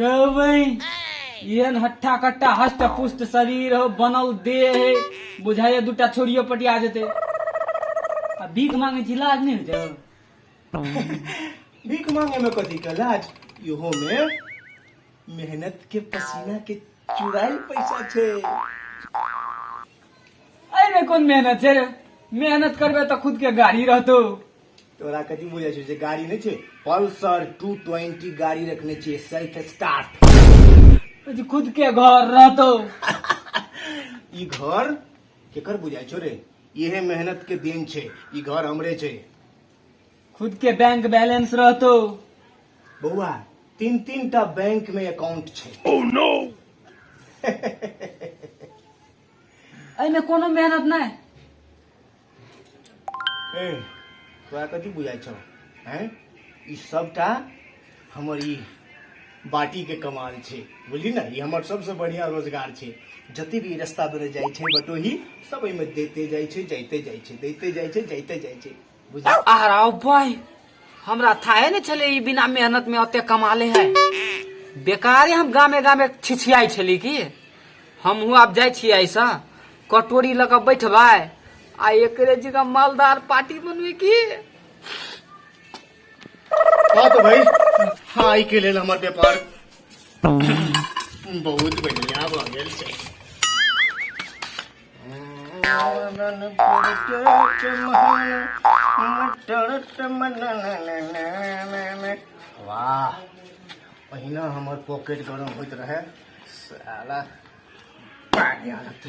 रवै एहन हट्ठा कट्टा हष्ट पुष्ट शरीर हो बनल देह है बुझाइए दूटा छोड़ियो पटिया जेतै आ भीख मांगे छी लाज नहि होइ छै भीख मांगे में कथी के लाज इहो में मेहनत के पसीना के चुराइल पैसा छै एहिमे कोन मेहनत छै रे मेहनत करबै तऽ खुद के गाड़ी रहतौ तोरा कथी बुझै छै जे गाड़ी नहि छै पल्सर टू ट्वेंटी गाड़ी रखने छियै सेल्फ स्टार्ट जी खुद के घर रहतो ई घर केकर बुझाय छो रे इहे मेहनत के दिन छै ई घर हमरे छै खुद के बैंक बैलेंस रहतो बौआ तीन तीन टा बैंक में अकाउंट छै एहिमे कोनो मेहनत नहि ए तोरा कथी बुझाइ छौ हैं ई सबटा हमर ई बाटी के कमाल छै बुझली ना ई हमर सबसे बढ़िया रोजगार छै जते भी रास्ता पर जाइ छै बटोही सब एहिमे देते जाइ छै जाइते जाइ छै देते जाइ छै जाइते जाइ छै भाई हमरा थाहे ने छले ई बिना मेहनत में ओते कमा ले है बेकारे हम गामे गामे छिछियाई छली की हम हूँ आप जाए छी ऐसा कटोरी लग बैठबे आ एक जगह मालदार पार्टी बनबे की हाँ तो भाई हाँ के लेल हमर व्यापार बहुत बढ़िया भऽ गेल छै वाह पहिना हमर पॉकेट गरम होइत रहे साला पानी आदत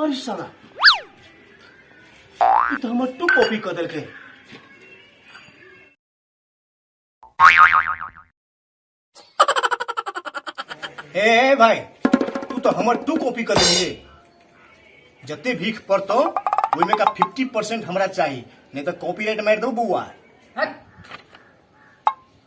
अरे साला ई तो हमर टू कॉपी कर देलके हे हे भाई तू तो हमर टू कॉपी कर देलिए जते भीख पड़तो ओहिमे का फिफ्टी परसेंट हमरा चाही नहीं तो कॉपीराइट मार दो बउआ